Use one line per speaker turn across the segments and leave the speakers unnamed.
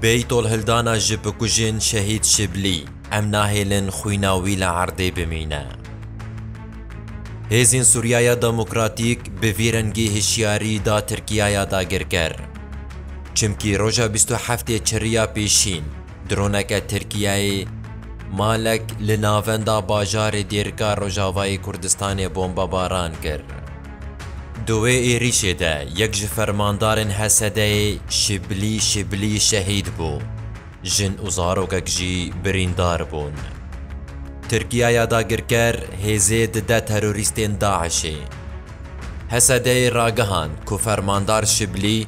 Beytolhildana ji bikujên Şehîd Şiblî, Em nahêlin xwîna wî li erdê bimîne. Hêzên Sûriyaya Demokratîk bi vî rengî hişyarî da Tirkiyaya dagirker. Çimkî roja bîst û heftê çiriya pêşîn, droneke Tirkiyeyê malek li navenda bajarê Dêrika Rojavayê Kurdistanê bombebaran kir. Di wê êrîşê de yek ji fermandarên HSD'ê Şiblî Şiblî şehîd bû, jin û zarokek jî birîndar bûn. Tirkiya ya dagirker hêzê dide terorîstên DAIŞ'ê. HSD'ê ragihand ku fermandar Şiblî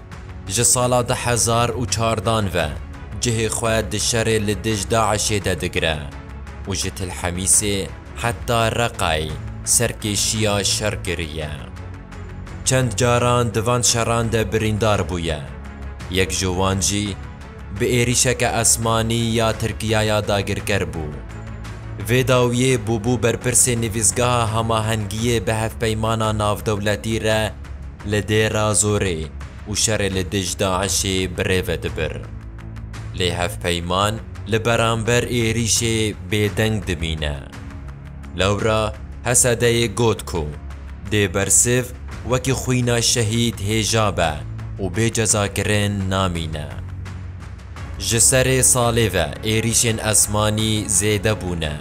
ji sala du hezar û çardan ve cihê xwe di şerê li dij DAIŞ'ê de digire û ji Til Hemîsê, Heta Reqay serkêşiya şer kiriye. Çend caran di van şeran de birîndar bûye. Yek ji wan jî bi êrîşeke esmanî ya Tirkiyaya dagirker bû. Vê dawiyê bûbû berpirsê Nivîsgeha Hamahengiyê bi Hevpeymana Navdewletî re li Dêra Zorê û şerê li dij DAIŞ'ê birêve dibir. Lê hevpeyman li beramber êrîşê bêdeng dimîne. Lewra Hesedeyê got ku Dêbersiv wekî xwîna şehîd hêja be û bê cezakirin namîne. Ji serê salê ve êrîşên esmanî zêde bûne.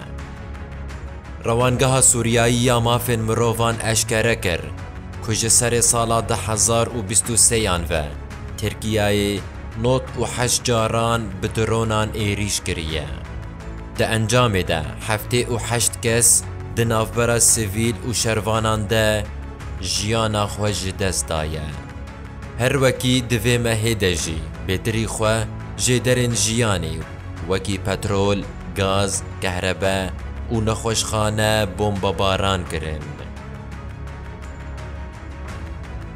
Rewangeha Sûriyayî ya Mafên Mirovan eşkere kir ku ji serê sala du hezar û bîst û sêyan ve Tirkiyeyê, Nod û heşt caran bi dronan êrîş kiriye. Di encamê de heftê û heşt kes di navbera sivîl û şervanan de jiyana xwe ji dest daye. Her wekî di vê mehê de jî bêtirî xwe jê derên jiyanê wekî petrol, gaz, kehrebe û nexweşxane bombebaran kirin.